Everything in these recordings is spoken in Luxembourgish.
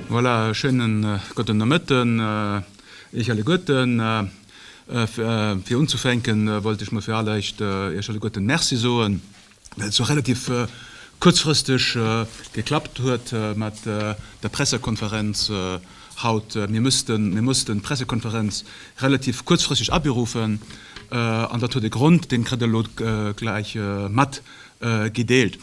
Voilà, schéinen gotten Nomëtten Iech alleguerten. Fir unzufänken wollt ech mol fir alleréischt Iech alleguerten Merci soen, well et sou relativ kuerzfristeg geklappt huet mat der Pressekonferenz Haut, mir mussten d'Pressekonferenz relativ kuerzfristeg aberuffen an dat huet e Grond, deen kritt Der elo gläich mat gedeelt.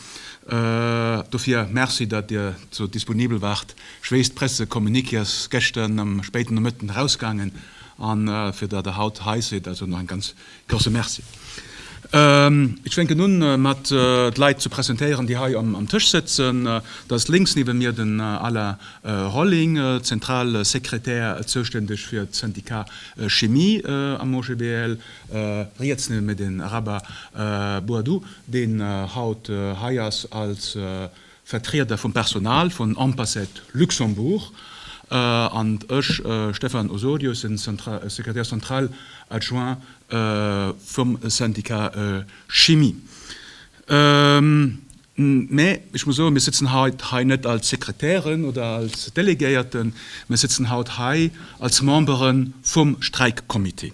Dofir Merci, datt Dir sou disponibel waart. Ech weess, d'Pressecommuniqué ass gëschter am spéiten Nomëtten erausgaangen an fir datt Der haut hei sidd, also nach eng ganz Klasse, Merci. Ech fänken un mat d'Leit ze presentéieren, déi hei am Tësch sëtzen. Dat ass lénks niewent mir den Alain Rolling, Zentralsekretär, zouständeg fir d'Syndicat Chimie am OGBL. Riets niewent mir den Rabah Boadou, deen haut hei ass als Vertrieder vum Personal vun Ampaset Luxembourg an ech, Stéphane Osorio, sinn Secrétaire central adjoint vum Syndicat Chimie. Mä ech muss soen, mir sëtzen haut hei net als Sekretären oder als Delegéierten, mir sëtzen haut hei als Membere vum Streikcomité.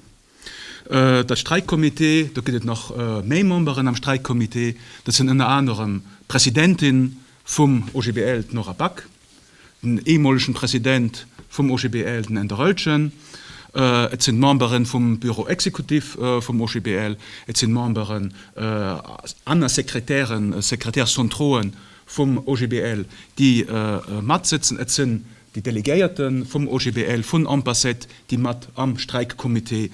De Streikcomité, do gëtt et nach méi Memberen am Streikcomité, dat sinn ënner anerem d'Presidentin vum OGBL, d'Nora Back, den eemolegen President vum OGBL, den Änder Oelchen, et sinn d'Memberen vum Bureau exécutif vum OGBL, et sinn Memberen, aner Sekretären, Secrétaires centrauxen vum OGBL, déi matsëtzen, et sinn Déi Delegéierte vum OGBL vun Ampacet, déi mat am Streikcomité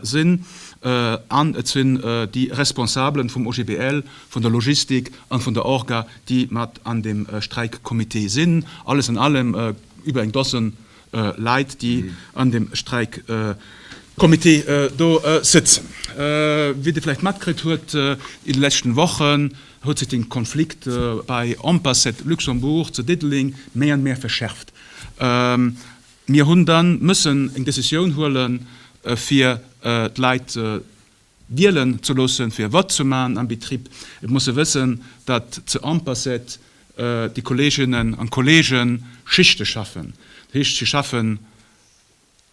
sinn, an et sinn déi Responsabelen vum OGBL, vun der Logistik an vun der Orga, déi mat an deem Streikcomité sinn. Alles an allem über eng Dozen Leit, déi an deem Streikcomité do sëtzen. Wéi Der vläicht matkritt huet in de leschten Wochen, huet sech den Konflikt bei Ampersad Luxembourg zu Diddeleng méi an méi verschärft. Mir hunn dann mëssen eng Decisioun huelen fir d'Leit wielen ze loossen fir wat ze man am Betrib. Et muss e wëssen dat zu Ampersad déi Kolleginnen an Kollegen Schichte schaffen. Dat heescht si schaffen.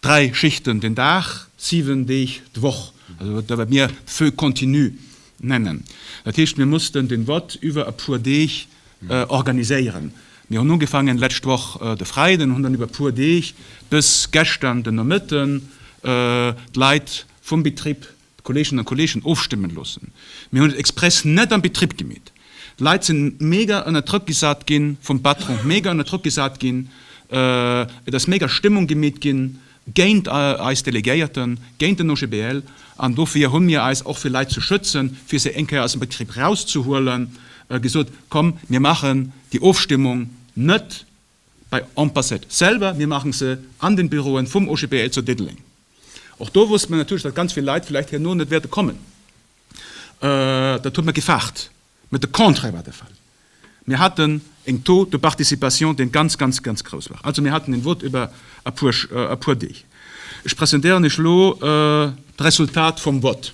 Dräi Schichten den Dag, siwen Deeg d'Woch, also wat wat mir Feu continu nennen. Dat heescht, mir mussten den Vott iwwer e puer Deeg organiséieren. Mir hunn ugefaangen d'lescht Woch de Freiden an hunn dann iwwer e puer Deeg bis gestern den Nomëtten d'Leit vum Betrib D'Kollegen a Kollegen ofstëmmen loossen. Mir hunn et express net am Betrib gemeet. D'Leit sinn mega ënner Drëck gesat ginn vum Patron, mega ënner Drëck gesat ginn. Et ass mega Stëmmung gemeet ginn géint eis Delegéierten, géint den OGBL. An dofir hu mir eis och fir Leit ze schützen, fir se eng Kéier aus dem Betrib rauszehuelen, gesot, komm mir maachen déi Ofstëmmung net Bei Ampassed selwer, mir maachen se an den Büroen vum OGBL zu Diddeleng. Och do wosste mer natierlech, datt ganz vill Leit vläicht herno net wäerte kommen. Dat hu mer gefaart, mä de Contraire war de Fall. Mir haten en Taux de participation, dee ganz, ganz, ganz grouss war. Also mir haten en Vote iwwer e puer Deeg. Ech presentéieren Iech elo d'Resultat vum Vote.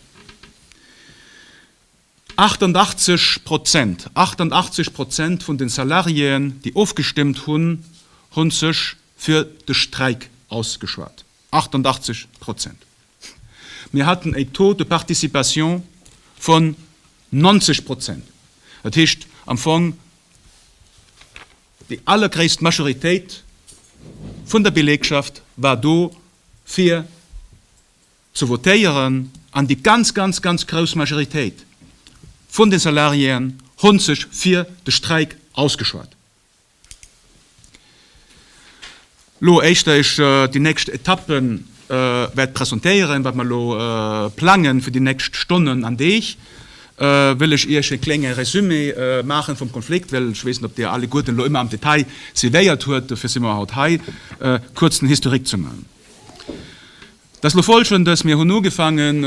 88 Prozent, 88 Prozent vun de Salariéen, déi ofgestëmmt hunn, hu sech fir de Streik ausgeschwat. 88 Prozent! Mir haten e Taux de participation vun 90 Prozent. Dat heescht am Fong, déi allergréisst Majoritéit vun der Belegschaft war do fir ze votéieren an déi ganz, ganz, ganz grouss Majoritéit vun de Salariéen hont sech fir de Streik ausgeschwat. Lo éischter ech déi nächst Etappe wäert presentéieren, wat mer lo plangen fir déi nächst Stonnen an Deeg, wëll ech Iech e klénge Résumé maachen vum Konflikt, well ech weess net, ob Dir alleguerten lo ëmmer am Detail suivéiert huet, dofir si mer haut hei, kuerz den Historique ze man. Dass lo folgendes, dass mir hunn ugefaangen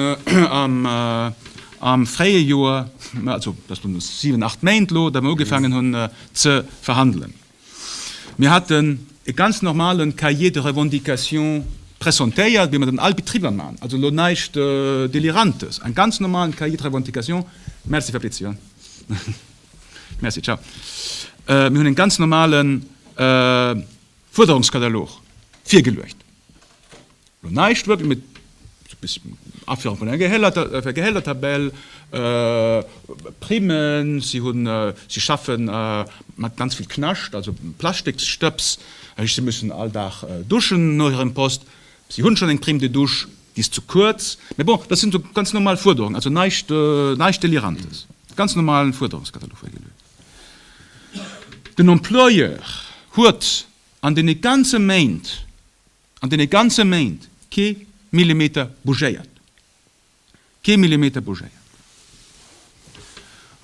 am fréie Joer, also dass lo siwen, acht Méint lo, datt mer ugefaangen hunn ze verhandelen. Mir haten e ganz normale Cahier de revendications pressentéiert, wéi mer dat an all Betriber maachen, also lo näischt Delirantes, en ganz normalen Cahier de revendications. Merci, Fabrizio. Merci, ciao. Mir hunn e ganz normale Fuerderungskatalog virgeluecht. Lo näischt wëllt mir Aféiere vun enger Gehältertabell, Primmen, si hunn, si schaffen mat ganz vill Knascht, also Plastiksstëbs, dat heescht si mussen all Dag duschen no hirem Poste, si hunn schonn eng Prime de douche, déi ass ze kuerz, mä bon, dat sinn esou ganz normal Fuerderungen, also näischt, näischt Delirantes, ganz normalen Fuerderungskatalog. Den Employeur huet An deene ganze Méint, an deene ganze Méint kee Millimeter bougéiert, kee Millimeter bougéiert.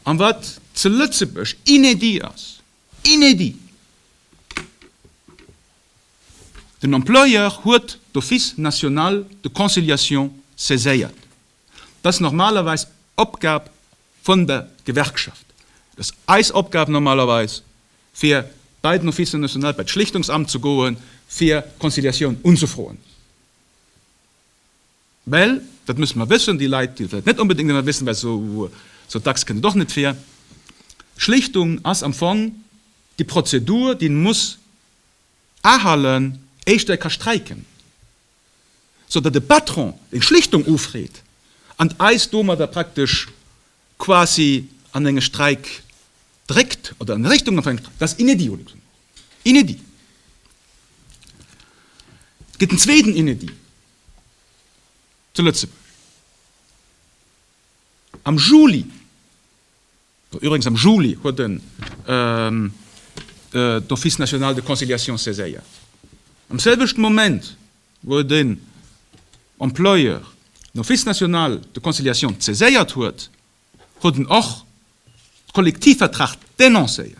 An wat ze Lëtzebuerg inédit ass, inédit, den Employeur huet d'Office national de conciliation saiséiert, Dat ass normalerweis Opgab vun der Gewerkschaft. Et ass eis Opgab normalerweis, fir bei den Office national, bei d'Schlichtungsamt ze goen, fir Conciliatioun unzefroen. Well, dat musse mer wëssen, déi Leit, déi dat vläicht net onbedéngt ëmmer wëssen, well esou dacks kënnt et och net vir, Schlichtung ass am Fong déi Prozedur, déi een muss ahalten, éischter ee ka streiken. sou datt e Patron eng Schlichtung ufreet an eis domadder praktesch quasi an enge Streik dréckt oder an Richtung vun engem Streik. Dat ass inédit au Luxembourg. Inédit! Et gëtt en zweeten Inédit zu Lëtzebuerg. Am Juli Üwregens am Juli huet en d'Office national de conciliation saiséiert, am selwechten Moment wou den Employeur den Office national de conciliation saiséiert huet, huet en och de Kollektivvertrag denoncéiert.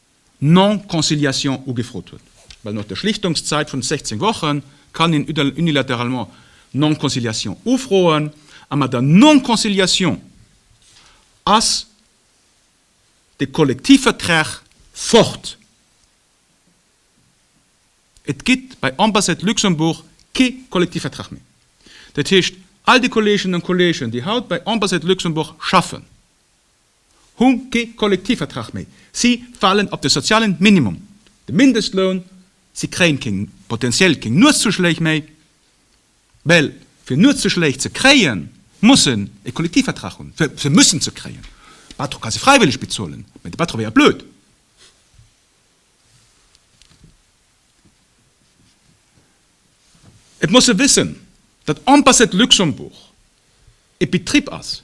Non-Conciliation ugefrot huet. Well no der Schlichtungszäit vun 16 Woche kann een unilateralement Non-Conciliation ufroen. A mat der Non-Conciliation ass de Kollektivvertrag fort. Et gitt bei Ambassade Luxembourg kee Kollektivvertrag méi. Dat heescht, all déi Kolleginnen a Kollegen, déi haut bei Ambassade Luxembourg schaffen, hu kee Kollektivvertrag méi, si falen op de sozialen Minimum, de Mindestloun, si kréien keng, potentiell keng Nuetszuschléich méi, well fir Nuetszuschléich ze kréien, muss en e Kollektivvertrag hunn, fir se mussen ze kréien. De Patron ka se fräiwëlleg bezuelen, mä de Patron wéiert blöd. Et muss e wëssen, datt Ambassade Luxembourg e Betrib ass,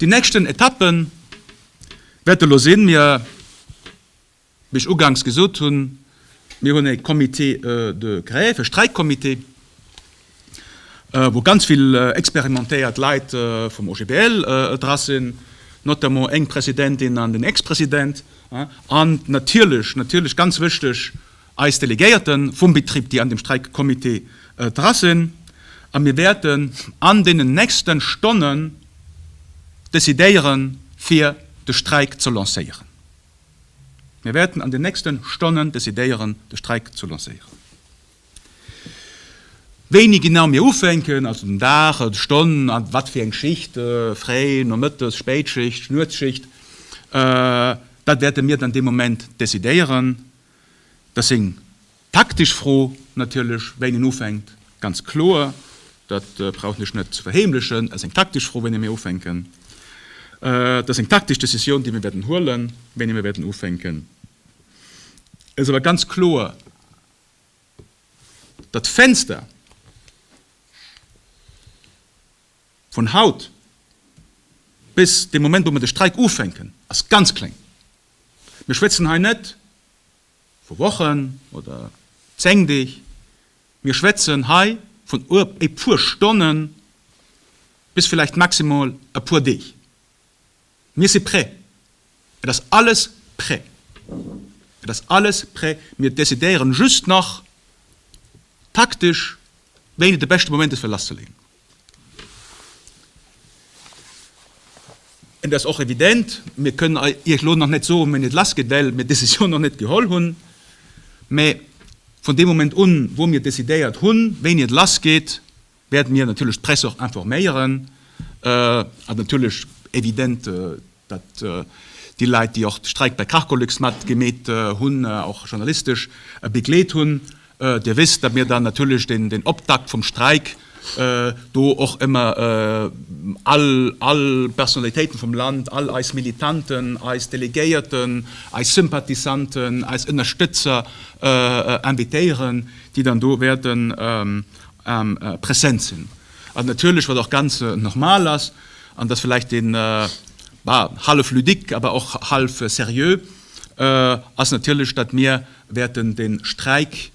Déi nächsten Etappe wäert elo sinn, mir, wéi ech uganks gesot hunn, mir hunn e Comité de grève, e Streikcomité, wou ganz vill experimentéiert Leit vum OGBL dra sinn, notamment eng Presidentin an den Ex-President, an natierlech, natierlech ganz wëchteg, eis Delegéierte vum Betrib, déi an dem Streikcomité dra sinn, a mir wäerten an deenen nächste Stonnen decidéiere fir de Streik ze lancéieren. Mir wäerten an den nächste Stonnen decidéieren, de Streik ze lancéieren. Wéini genau mir ufänken, also den Dag, d'Stonn, wat fir eng Schicht, Fréi-, Nomëttes-, Spéitschicht, Nuetsschicht, dat wäerte mir dann dee Moment decidéieren. Dat seng taktesch Fro natierlech, wéini en ufänkt, ganz kloer. Dat brauchen ech net ze verheemlechen. Dat ass eng taktesch Fro, wéini mir ufänken. Dat ass eng taktesch Decisioun, déi mir wäerten huelen, wéini mir wäerten ufänken. Et ass awer ganz kloer, datt d'Fenster, Vun haut bis dee Moment, wou mer de Streik ufänken, ass ganz kleng. Mir schwätzen hei net vu Wochen oder zéng Deeg, mir schwätzen hei vun e puer Stonne bis vläicht maximal e puer Deeg. Mir si prêt, et ass alles prêt, et ass alles prêt. Mir decidéieren just nach taktesch, wéini de beschte Moment ass, fir lasszeleeën. Et ass och evident, mir kënnen Iech elo nach net soen, wéini et lassgeet, well mir d'Decisioun nach net geholl hunn. Mä vun deem Moment un, wou mir decidéiert hunn, wéini et lassgeet, wäerte mir natierlech d'Press och informéieren a natierlech evident datt déi Leit, déi och de Streik bei Cargolux mat gemeet hunn, och journalistesch begleet hunn. Dir wësst, datt mir dann natierlech den Optakt vum Streik do och ëmmer all Personnalitéiten vum Land, all eis Militanten, eis Delegéierten, eis Sympathisanten, eis Ënnerstëtzer invitéieren, déi dann do wäerten present sinn. An natierlech, wat och ganz normal ass, an dass vläicht dee hallef ludique, awer och hallef seriö ass, natierlech, datt mir wäerten de Streik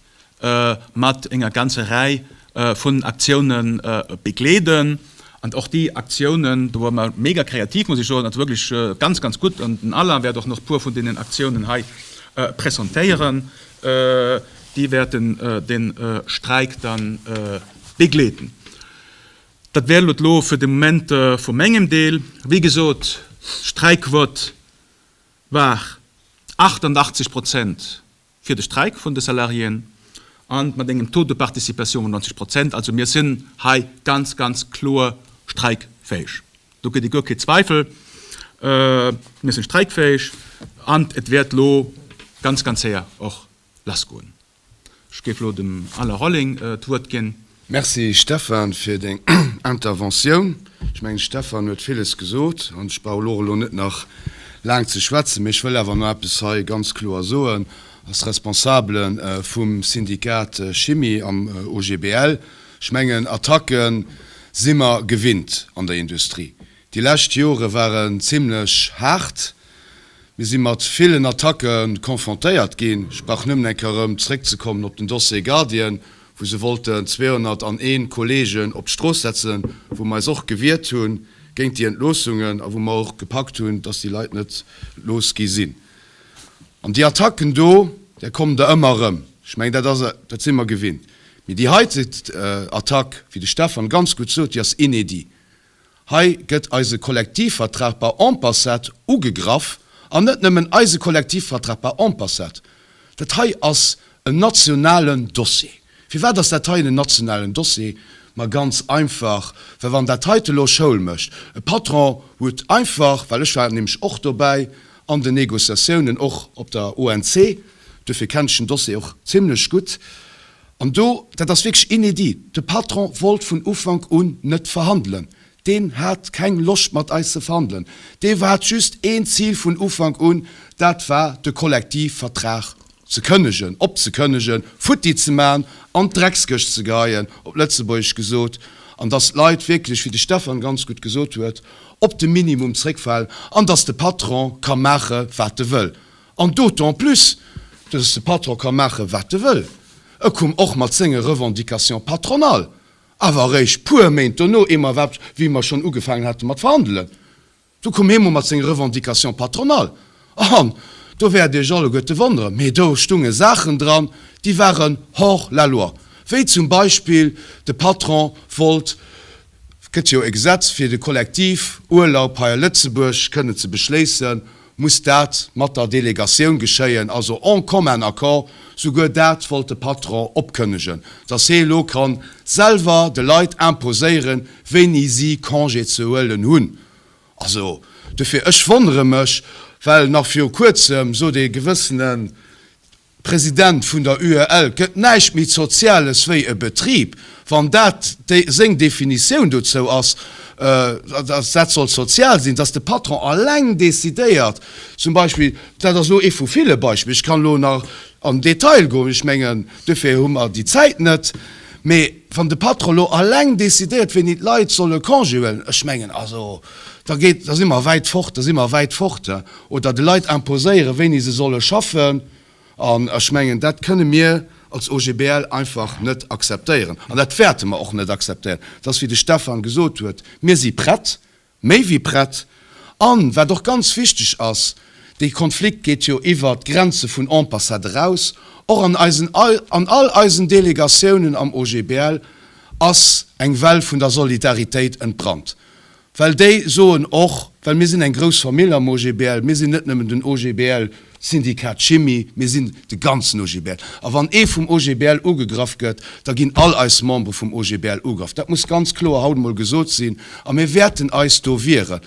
mat enger ganzer Rei vun Aktioune begleeden. An och déi Aktiounen, do ware mer mega kreativ, muss ech soen, also wierklech ganz, ganz gutt. An den Alain wäert och nach e puer vun deenen Aktiounen hei presentéieren, déi wäerten de Streik dann. begleeten. Dat wär et elo fir de Moment vu mengem Deel. Wéi gesot, d'Streikquot war 88 Prozent fir de Streik vun de Salariéen a mat engem Taux de participation vun 90 Prozent. Also mir sinn hei ganz, ganz kloer streikfäeg. Do gëtt ee guer kee Zweifel. Mir si streikfäeg an et wäert elo ganz, ganz séier och lassgoen. Ech géif elo dem Alain Rolling d'Wuert ginn. Merci, Stefan, fir deng Interventioun. Ech mengen, de Stefan huet villes gesot an ech brauch elo och elo net nach laang ze schwätzen. Mee ech wëll awer nach eppes hei ganz kloer soen als Responsabele vum Syndikat Chimie am OGBL. Ech mengen, Attacken si mer gewinnt an der Industrie. Déi lescht Jore waren zimmlech haart. Mir si mat villen Attacke confrontéiert ginn. Ech brauch nëmmen eng Kéier erëm zeréckzekommen op den Dossier Guardian, wou se wollten 201 Kolleegen op d'Strooss setzen, wou mer eis och gewiert hu géint déi Entloossungen a wou mer och gepackt hunn, dass déi Leit net entlooss gi sinn. An déi Attacken do, där kommen der ëmmer erëm. Ech mengen, dat ass, dat si mer gewinnt. Mee déi heite Attack, wéi de Stefan ganz gutt sot, déi ass inédit. Hei gëtt eise Kollektivvertrag par en passat ugegraff, an net nëmmen eise Kollektivvertrag par en passat. Dat hei ass en nationalen Dossier. Firwat ass dat hei en nationalen Dossier? Ma ganz einfach, well wann dat heite elo Schoul mécht, e Patron huet einfach, well ech war nämlech och dobäi an den Negociatiounen, och op der ONC, duerfir kennen ech den Dossier och zimlech gutt, An do, dat ass wierklech inédit, de Patron wollt vun Ufank un net verhandelen. Deen hat keng Loscht mat eis ze verhandelen. Dee hat just een Zil vun Ufank un, dat war de Kollektivvertrag ze kënnegen, opzekënnegen, futti ze maachen, an d'Dreckskëscht ze geheien, op Lëtzebuergesch gesot, an dass d'Leit wierklech, wéi de Stefan ganz gutt gesot huet, op de Minimum zréckfalen an dass de Patron ka maache wat e wëll. An d'autant plus, dass de Patron ka maache wat e wëll. E koum och mat senge Revendications patronales, awer eréischt puer Méint dono, ee Mois wat, wéi mer schonn ugefaangen hate mat verhandelen, do koum hie mol mat senge Revendications patronales. An do wäert Iech alleguerte wonneren, mee do stounge Saachen dran, déi waren hors la loi, wéi zum Beispill, de Patron wollt, Et gëtt jo e Gesetz fir de Kollektivurlaub hei a Lëtzebuerg kënnen ze beschléissen, muss dat mat der Delegatioun geschéien, also en commun accord. Souguer dat wollt de Patron opkënnegen, datt hie elo ka selwer de Leit imposéieren, wéini si Congé ze huelen hunn. Also dofir, ech wonnere mech, well nach viru Kuerzem sot ee gewëssenen, President vun der UEL, gëtt näischt méi Zoziales wéi e Betrib, wann dat seng Definitioun dozou ass, datt dat soll sozial sinn, datt de Patron alleng decidéiert, zum Beispill, dat ass elo ee vu ville Beispiller, ech kann elo nach an den Detail goen, ech mengen, dofir hu mer déi Zäit net, mee wann de Patron elo alleng decidéiert, wéini d'Leit solle Congé huelen, ech mengen, also da si mer wäit fort, da si mer wäit fort. oder de Leit imposéieren, wéini se solle schaffen, an ech mengen, dat kënne mir als OGBL einfach net akzeptéieren an dat wäerte mer och net akzeptéieren. Et ass, wéi de Stefan gesot huet, mir si prett, méi wéi prett, an wat och ganz wichteg ass, dee Konflikt geet jo iwwert d'Grenze vun Ampassat eraus, och an eisen, an all eisen Delegatiounen am OGBL ass eng Well vun der Solidaritéit entbrannt. Well déi soen och, well mir sinn eng grouss Famill am OGBL, mir sinn net nëmmen den OGBL, Syndikat Chimie, mir sinn de ganzen OGBL. A wann ee vum OGBL ugegraff gëtt, da ginn all eis Membere vum OGBL ugraff. Dat muss ganz kloer haut emol gesot sinn. A mir wäerten eis do wieren.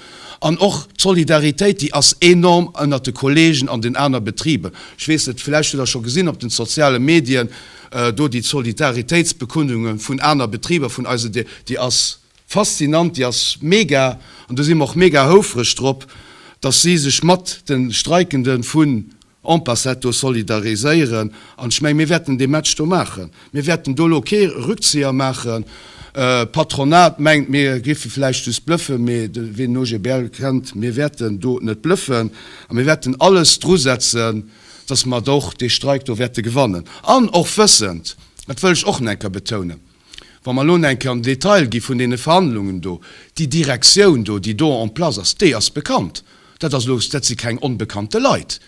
An och d'Solidaritéit, déi ass enorm ënnert de Kolleegen an den aner Betriber. Ech weess net, vläicht hutt Der scho gesinn op den soziale Medien do déi Solidaritéitsbekundunge vun aner Betriber vun eise, déi ass, Faszinant, déi ass mega an do si mer och mega houfreg drop, dass si sech mat de Streikende vun Ampacet do solidariséieren. An ech menge mir wäerten dee Match do maachen. Mir wäerten do elo kee Rückzieher maachen. D'Patronat mengt mir géife vläicht just blëffen, mee ween den OGBL kennt, mir wäerten do net blëffen a mir wäerten alles drusetzen, dass mer och dee Streik do wäerte gewannen. An och wëssend, dat wëll ech och nach eng Kéier betounen, Wa mer elo enke am Detail gi vun deene Verhandlungen do, déi Direktioun do, déi do en place ass, déi ass bekannt. Dat ass elo, dat si keng onbekannte Leit,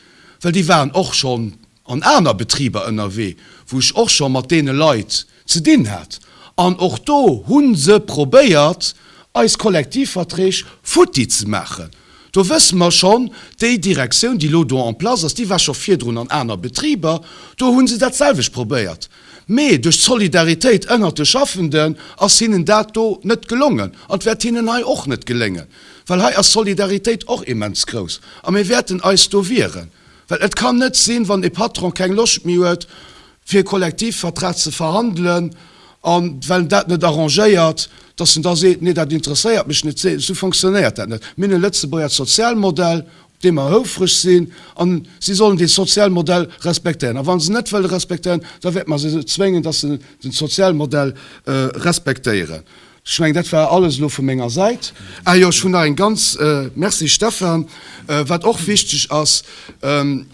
well déi waren och schonn an aner Betriber ënnerwee, wou ech och scho mat deene Leit ze dinn hat. An och do hu se probéiert, eis Kollektivverträg futti ze maachen. Do wësse mer schonn, déi Direktioun, déi elo do en place ass, déi war scho virdrun an aner Betriber, do hu se dat selwecht probéiert, mee duerch d'Solidaritéit ënnert de Schaffenden ass hinnen dat do net gelongen. An et wäert hinnen hei och net geléngen, well hei ass d'Solidaritéit och immens grouss a mir wäerten eis do wieren, well et kann net sinn, wann e Patron keng Loscht méi huet, fir e Kollektivvertrag ze verhandelen an well en dat net arrangéiert, datt en da seet, nee dat interesséiert mech net, esou fonctionnéiert dat net. Mir hunn e lëtzebuerger Sozialmodell, op dee mer houfreg sinn a si sollen dee Sozialmodell respektéieren. A wa se net wëlle respektéieren, da wäerte mer se zwéngen, datt se den Sozialmodell respektéieren. Ech mengen dat war alles elo vu menger Säit. Ah jo, ech hunn nach eng ganz, Merci Stefan, wat och wichteg ass,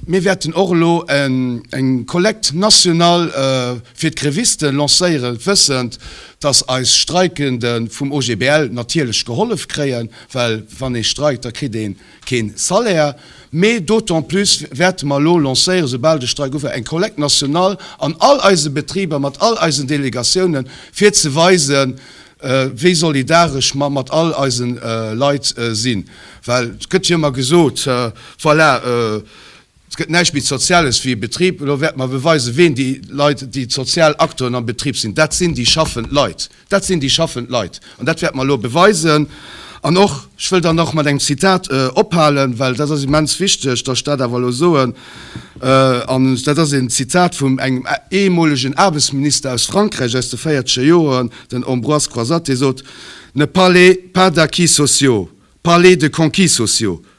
mir wäerten och elo eng Collecte nationale fir d'Grévisten lancéieren, wëssend dass eis Streikende vum OGBL natierlech gehollef kréien, well wann ee streikt, da kritt ee keen Salaire mee, d'autant plus wäerte mer elo lancéieren, soubal de Streik ufänkt, eng Collecte nationale an all eise Betriber, mat all eisen Delegatiounen, fir ze weisen, wéi solidaresch mer mat all eise Leit sinn. Well et gëtt jo ëmmer gesot, voilà, Et gëtt näischt méi Soziales wéi e Betrib. Elo wäerte mer beweisen, ween déi Leit, déi sozial Acteuren am Betrib sinn. Dat sinn déi schaffend Leit. Dat sinn déi schaffend Leit. An dat wäerte mer elo beweisen. An och, ech wëll dann och mat engem Zitat ophalen, well dat ass immens wichteg, dass ech dat awer elo soen, an dat ass een Zitat vum engem ehemolegen Aarbechtsminister aus Frankräich aus de véierzeger Joren, den Ambroise Croizat, dee sot, Ne parlez pas d'acquis sociaux, parlez de conquis sociaux.